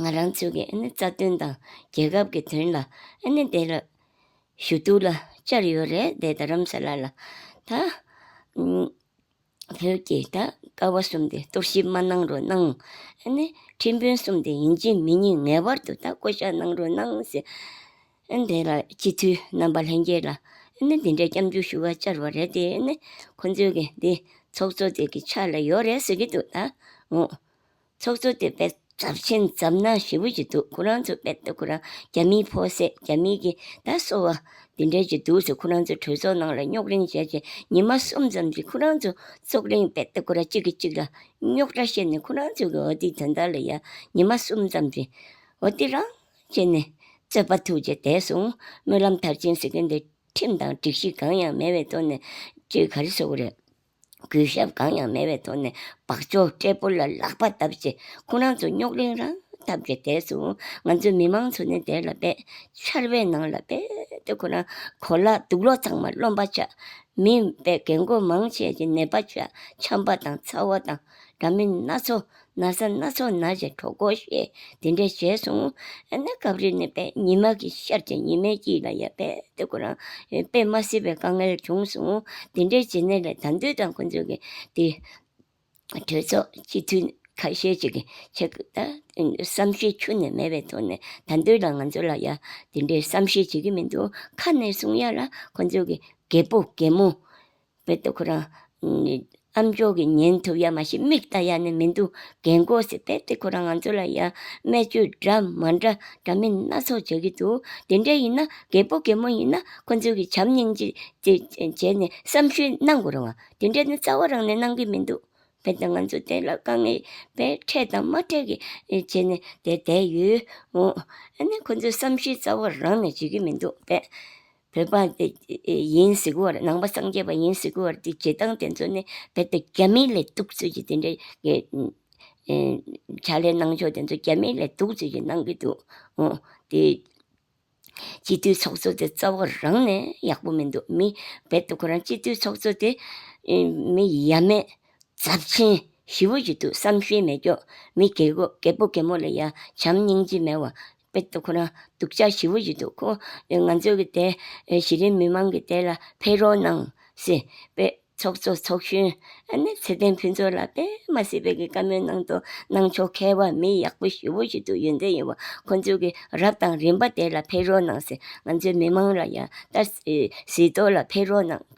ང་རང་ཚོའི་གི་ཨ་ནི་རྩ་དོན་དང་རྒྱལ་ཁབ་ཀྱི་དོན་ལ་ཨ་ནི་དེ་ལ་ཞུ་གཏུག་ལ་བཅར་ཡོད་རེད་དེ་ད་རམ་ས་ལ་ལ་ད་བོད་ཀྱི་ད་ཀ་བ་གསུམ་དེ་གཏོར་ཞིབ་མ་གནང་རོགས་གནང་ཨ་ནི་ཁྲིམས་དཔོན་གསུམ་དེ་ཡིན་གཅིག་མིན་གཉིས་ངེས་པར་དུ་ད་བསྐོ་བཞག་གནང་རོགས་གནང་ཟེར་ཨ་ནི་དེ་ལ་སྤྱི་འཐུས་རྣམ་པ་ལྷན་རྒྱས་ལ་ཨ་ནི་དེ་འདྲའི་སྐྱབས་འཇུག་ཞུ་བ་བཅར་བ་རེད་དེ་ཨ་ནི་ཁོང་ཚོའི་གི་འདི་ཚོགས་གཙོ་དེ་གི་ཕྱག་ལ་ཡོད་རེད་ཟེར་གྱི་འདུག་ད་ངོ་ཚོགས་གཙོ་དེ་པད་ཚབ་ཆེན་ཙམ་ན་ཞེ་བོ་ཅིག་འདུག་ཁོ་རང་ཚོ་པད་དེ་ཁོ་རང་རྒྱ་མིའི་ཕོ་སད་རྒྱ་མིའི་གི་ད་སོ་བ། འདི་འདྲའི་ཅིག་འདུག་ཟེར་ཁོ་རང་ཚོ་གྲོས་ཚོགས་ནང་ལ་རྙོག་རིང་བྱས་རྗེས་ཉི་མ་གསུམ་ཙམ་གྱིས་ཁོ་རང་ཚོ་ཚོགས་རིང་པད་དེ་ཁོ་རང་གཅིག་གིས་གཅིག་ལ་རྙོག་དྲ་བཤད་ནས་ཁོ་རང་ཚོ་གི་འོ་དེ་དོན་དག་ལ་ཡ་ཉི་མ་གསུམ་ཙམ་གྱིས་འོ་དེ་རང་བྱས་ནས་རྩོད་པ་ཐུགས་རྗེ་དད་སོང་སྨོན་ལམ་མཐར་ཕྱིན་ཟེར་མཁན་དེ་ཁྲིམས་དང་སྒྲིག་གཞི་གང་ཡང་མེད་བའི་ཐོག་ནས་ཅིག་ག་རེ་བཟོ་གི་རེད། གུས་ཞབས་གང་ཡང་མེད་པའི་ཐོག་ནས་འབག་ཆོག་སྐད་འབོར་ལ་ལག་པ་བརྡབ་ཆེད་ཁོ་རང་ཚོ་རྙོག་གླེང་རང་འཐབ་ཀྱི་གྲས་སུ་ང་ཚོའི་མི་མང་ཚོ་ནི་དེ་ལ་རྦད་ཆར་བའི་ནང་ལ་རྦད་དེ་ཁོ་རང་གོ་ལ་སྡུག་ལོག་ཚང་མ་རློམ་པ་ཆགས། མི་རྦད་རྒན་རྒོན་མང་ཆེ་ཆེ་ནད་པ་ཆགས་འཁྱམ་པ་དང་ཚ་བ་དང་འདྲ་མིན་སྣ་ཚོགས་ན་བཟའ་སྣ་ཚོགས་ན་བཞིན་གྲོགས་གོ་ཞེས་དེ་འདྲས་བྱས་སོང། ཨ་ན་སྐབས་རེ་ནི་པདྨ་ཉི་མ་གི་ཤར་ཕྱིན་ཉི་མའི་དཀྱིལ་ལ་ཡང་པད་ཟླའི་གོ་རང་པད་མ་བསིལ་བའི་དཀའ་ངལ་བྱུང་སོང། དེ་འདྲའི་བྱེད་གནས་ལས་དམ་དུས་དང་ཁོ་ཚོས་ཀྱི་དེ་གྲོས་ཚོགས་སྤྱི་འཐུས་ཁ་ཤས་ཅིག་གིས་བསམ་ཤེས་ཆུ་ནས་མེད་པའི་ཐོག་ནས་དམ་དུས་ལ་ང་ཚོ་ལ་ཡང་དེ་འདྲའི་བསམ་ཤེས་བྱེད་ཀྱི་མི་འདུག་ཁ་ནས་གསུང་ཡ་ལ་ཁོ་ཚོས་ཀྱི་རྒད་པོ་རྒད་མོ། བོད་དུ་ཁོ་རང་ཨམ་ཅོག་གི་ཉན་ཐུབ་ཡ་མ་ཤེས་མིག་ལྟ་ཡ་ནི་མི་འདུག་རྒན་མགོ་ཟེར་དེ་དེ་ཁོ་རང་ང་ཚོ་ལ་ཡ་སྨད་བཅོས་འདྲ་མ་འདྲ་འདྲ་མིན་སྣ་ཚོགས་བྱེད་ཀྱི་འདུག་དེ་འདྲ་ཡིན་ན་རྒད་པོ་རྒད་མོ་ཡིན་ན་ཁོ་ཚོས་ཀྱི་བྱམས་སྙིང་རྗེ་བྱས་ནས་བསམ་ཤེས་གནང་དགོས་རུང་དེ་འདྲ་ནི་རྩ་བ་རང་ནས་གནང་གི་མི་འདུག་བོད་དང་ང་ཚོ་དེ་ལ་དཀའ་ངལ་བས་འཕྲད་དང་མ་འཕྲད་ཀྱི་བྱས་ནས་དེ་བསྡད་ཡོད་འོང་ཨ་ནི་ཁོ་ཚོས་བསམ་ཤེས་རྩ་བ་རང་ནས་བྱེད་ཀྱི་མི་འདུག་པས། བོད་པ་འདི་ཡིན་གཟིགས་བར་ནང་པ་སངས་རྒྱས་པ་ཡིན་གཟིགས་བར་དེ་བྱེད་སྟངས་དེ་ཚོ་ནི་བོད་པའི་རྒྱ་མིའི་ལས་གཏུགས་ཚུལ་གྱི་དེ་འདྲའི་བྱ་ལས་གནང་ཕྱོགས་དེ་ཚོ་རྒྱ་མིའི་ལས་གཏུགས་ཚུལ་གྱི་གནང་གི་འདུག་ཨོ་དེ། སྤྱི་འཐུས་ཚོགས་གཙོ་དེ་རྩ་བ་རང་ནས་ཡག་པོ་མི་འདུག་མི་རྦད་དུ་ཁོ་རང་སྤྱི་འཐུས་ཚོགས་གཙོ་དེ་མི་ཡ་མེད་རྫབ་ཆེན་ཞི་བོ་ཞིག་འདུག་བསམ་ཤེས་མེད་སྐྱོ་མི་རྒས་པོ་རྒད་མོ་ལ་ཡ་བྱམས་སྙིང་རྗེ་མེད་བ་དཔེ་དེ་ཁོ་རང་སྡུག་ཅག་ཞི་བོ་ཡི་འདུག་ཁོ་ང་ཚོ་གི་དེ་གཞི་རིམ་མི་མང་གི་དེ་ལ་ཕེ་རོག་གནང་སི་པེ་ཚོགས་གཙོ་ཚོགས་གཞོན་ཨ་ནེ་ཚེ་བརྟན་ཕུན་ཚོགས་ལ་པེ་མ་སི་པེ་གི་བཀའ་མོལ་གནང་དོ་གནང་ཆོག་མཁས་བ་མི་ཡག་པོ་ཞི་བོ་ཞིག་འདུག་ཡོན་ཏན་ཡིན་བ་ཁོ་ཚོ་གི་རབ་དང་རིམ་པ་དེ་ལ་ཕེ་རོག་གནང་སི་ང་ཚོའི་མི་མང་ལ་ཡང་ལྟ་སི་སི་ཏོ་ལ་ཕེ་རོག་གནང།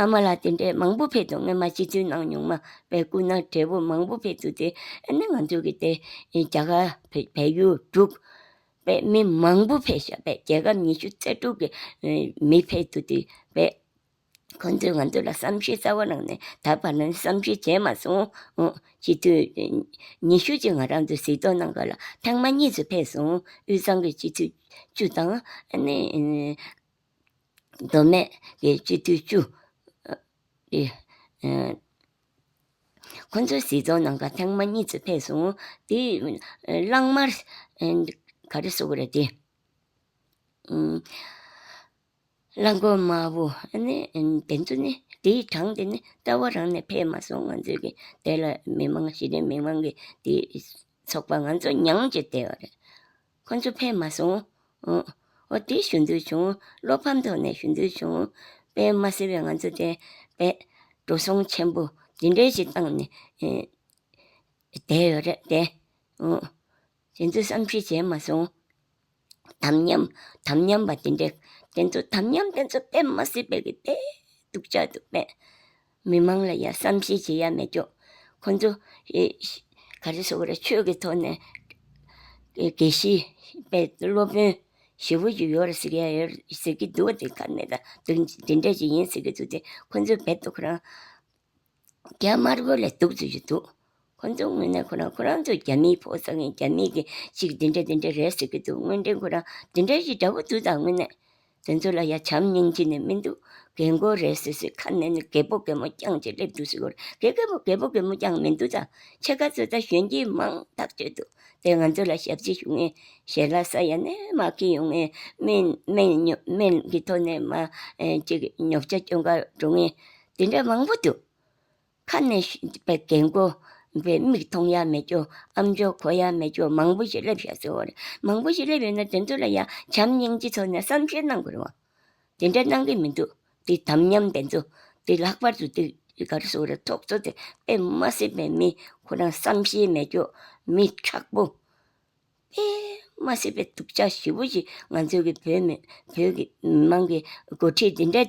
ཨ་མ་ལགས་དེ་འདྲའི་མང་པོ་ཕེབས་འདུག་སྔོན་མ་སྤྱི་འཐུས་གནང་མྱོང་མ་བའི་སྐུ་ན་བགྲེས་པོ་མང་པོ་ཕེབས་འདུག་དེ་ནི་ང་ཚོ་གི་དེ་རྒྱ་གར་བལ་ཡུལ་དྲུག་པའི་མི་མང་པོ་ཕེབས་ཤག་པའི་རྒྱལ་ཁབ་ཉི་ཤུ་རྩ་དྲུག་གི་མི་ཕེབས་འདུག་དེ་བས་ཁོ་ཚོས་ང་ཚོ་ལ་བསམ་ཤེས་གསར་བ་གནང་ནས་ད་བར་ནི་བསམ་ཤེས་བྱས་མ་སོང་སྤྱི་འཐུས་ཉི་ཤུ་གཅིག་ང་རང་ཚོ་གཟིགས་རྟོག་གནང་སྐབས་ལ་ཐེངས་མ་གཉིས་སུ་ཕེབས་སོང་དབུས་གཙང་གི་སྤྱི་འཐུས་བཅུ་དང་ཨ་ནི་མདོ་སྨད་ཀྱི་སྤྱི་འཐུས་བཅུ། ཁོ་ཚོ་སྲིད་སྐྱོང་ནང་ཁ་ཐེངས་མ་གཉིས་ཙམ་ཕེབས་སོང། དེ་གླང་དམར་ག་རེ་སོགས་རེད་དེ། གླང་མགོ་དམར་བོ་ནི་དེ་ཚོ་ནི་དེའི་གྲངས་དེ་ནི་རྩ་བ་རང་ནས་ཕེབས་མ་སོང་ང་ཚོའི་གི་དེ་ལ་མི་མང་གཞི་རིམ་མི་མང་གི་དེ་ཚོགས་པ་ང་ཚོ་མྱངས་ཀྱི་བསྡད་ཡོད་རེད། ཁོ་ཚོ་ཕེབས་མ་སོང། ཨོ་དེ་ཞུ་འདོད་བྱུང། བློ་ཕམ་ཐོག་ནས་ཞུ་འདོད་བྱུང། པད་མ་སེར་བས་ང་ཚོ་དེ། པད། འགྲོ་སོང་ཆེན་པོ་འདི་འདྲའི་ཞིག་བཏང་ནས། བསྡད་ཡོད་རེད་དེ། དེ་ཚོ་བསམ་ཤེས་བྱས་མ་སོང། དམ་ཉམས། དམ་ཉམས་པ་དེ་འདྲས། དེ་ཚོ་དམ་ཉམས་དེ་ཚོ་པད་མ་སེར་བས་ཀྱི་བསྡད་འདུག་ཅག་འདུག་པད། མི་མང་ལ་ཡང་བསམ་ཤེས་བྱེད་ཡ་མེད་ཀྱོ། ཁོང་ཚོ། ག་རེ་ཟོ་རེད་ཆོས་ཀྱི་ཐོག་ནས། དགེ་བཤེས་པའི་སློབ་དཔོན་ཞེ་བོ་ཞིག་ཡོད་རེད་ཟེར་གྱི་ཡོད་རེད་ཟེར་གྱི་འདུག་དེ་ག་ནས་དང་དེ་འདྲ་ཞིག་ཡིན་ཟེར་གྱི་འདུག་དེ་ཁོང་ཚོའི་བེད་དུ་ཁོ་རང། རྒྱ་དམར་པོ་ལས་གཏུགས་ཚུལ་གྱི་འདུག། ཁོ་ཚོའི་ངོས་ནས་ཁོ་རང་ཁོ་རང་ཚོ་རྒྱ་མིའི་ཕོག་བཟའ་མཁན་རྒྱ་མི་གི་ཅིག་འདི་འདྲ་འདི་འདྲ་རེད་ཟེར་གྱི་འདུག་དངོས་འབྲེལ་ཁོ་རང་འདི་འདྲ་ཞིག་འདྲ་བོ་འདུག་ད་དངོས་གནས་དེ་ཚོ་ལ་ཡ་བྱམས་སྙིང་རྗེ་ནི་མི་འདུག་རྒན་རྒོན་རེད་ཟེར་ཟེར་ཁ་ནས་ནི་རྒད་པོ་རྒན་མོ་རྐྱང་ཅིག་སླེབས་འདུག་ཟེར་གོ་རེད་རྒད་རྒན་པོ་རྒན་མོ་རྐྱང་མི་འདུག་ད་ཕྱེད་ཀ་ཚོ་ད་གཞོན་སྐྱེས་མང་ཐག་གཅོད་འདུག་དེ་ང་ཚོ་ལ་ཞབས་ཕྱི་ཞུ་མཁན་ཞལ་ལག་ས་ཡ་ནས་མ་ཁེངས་ཡོང་མཁན་མིན་མིན་མིན་གྱི་ཐོག་ནས་མ་ཅིག་ཉོབ་ཆ་སྐྱོན་འགའ་འགྲོ་མཁན་དེ་འདྲ་མང་པོ་འདུག། ཁ་ནས་བཞིན་པའི་རྒན་རྒོན་པའི་མིག་མཐོང་ཡ་མེད་རྒྱུ་ཨ་མཆོག་གོ་ཡ་མེད་རྒྱུ་མང་པོ་ཞིག་སླེབས་ཤག་ཚོད་འོ་རེད། མང་པོ་ཞིག་སླེབས་ཡོད་ན་དེ་ཚོ་ལ་ཡང་བྱམས་སྙིང་རྗེ་ཚོར་ནས་བསམ་ཤེས་གནང་དགོས་རེད་བ། དེ་འདྲ་གནང་གི་མི་འདུག་དེ་དམ་ཉམས་དེ་ཚོ་དེ་ལྷག་པར་དུ་དེ་ག་རེ་ཟུག་རེད་ཐོག་ཚོ་དེ་དཔེ་མ་སྲིད་པའི་མི་ཁོ་རང་བསམ་ཤེས་མེད་རྒྱུ་མི་ཁྲག་པོ། དཔེ་མ་སྲིད་པའི་དུག་ཆ་ཞིབ་པོ་ཞིག་ང་ཚོ་གི་བོད་མི་བོད་ཀྱི་མི་མང་གི་འགོ་ཁྲིད་དེ་འདྲ།